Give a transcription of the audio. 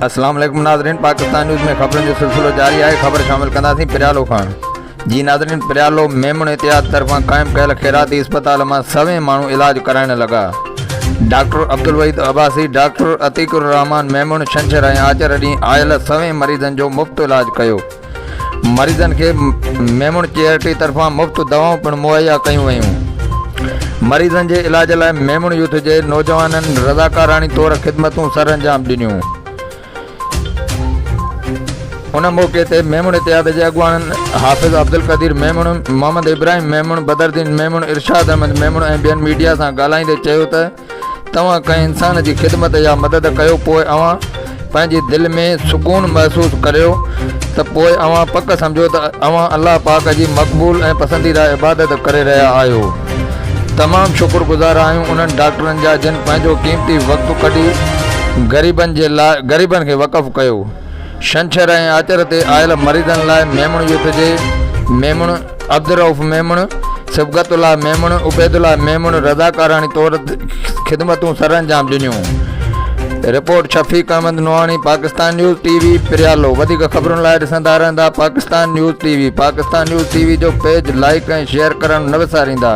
السلام عليڪم ناظرين پاڪستان نيوز ۾ خبرن جو سلسلو جاري آهي خبر شامل ڪنداسين پريالو کان جي ناظرين پريالو ميمڻ اتحاد طرفان قائم ڪيل خيراتي اسپتال مان سوين ماڻهو علاج ڪرائڻ لڳا ڊاڪٽر عبدالوحيد عباسي ڊاڪٽر عتيق الرحمان ميمڻ ڇنڇر ۽ آچر ڏينهن آيل سوين مريضن جو مفت علاج ڪيو مريضن کي ميمڻ چيئرٽي طرفان مفت دوائون پڻ مهيا ڪيون ويون مريضن جي علاج لاء ميمڻ يوٿ جي نوجوانن رضاڪاراڻي طور خدمتون سرانجام ڏنيون ان موقعي تي ميمڻ اتحاد جي اڳواڻن حافظ عبدالقدير ميمڻ محمد ابراهيم ميمڻ بدردين ميمڻ ارشاد احمد ميمڻ ۽ ٻين ميڊيا سان ڳالهائيندي چيو ته توهان ڪنهن انسان جي خدمت يا مدد ڪيو پوء اوهان پنهنجي دل ۾ سڪون محسوس ڪريو ته پوء اوهان پڪ سمجهو ته اوهان الله پاڪ جي مقبول ۽ پسنديده عبادت ڪري رهيا آهيو تمام شڪر گذار آهيون انهن ڊاڪٽرن جا جن پنهنجو قيمتي وقت ڪڍي غريبن جي لاء غريبن کي وقف ڪيو شنڇر ۽ آچر تي آيل مريضن لاء ميمڻ يوٿ جي ميمڻ عبدالرئوف ميمڻ، صبغت الله ميمڻ، عبيدالله ميمڻ رضاڪاراڻي طور خدمتون سر انجام ڏنيون. Report Shafiq Ahmed Nohani Pakistan news T V پريالو وڌيڪ خبرن لاء ڏسندا رهندا Pakistan news T V Pakistan news T V جو پيج لائيڪ ۽ شيئر ڪرڻ نه وساريندا.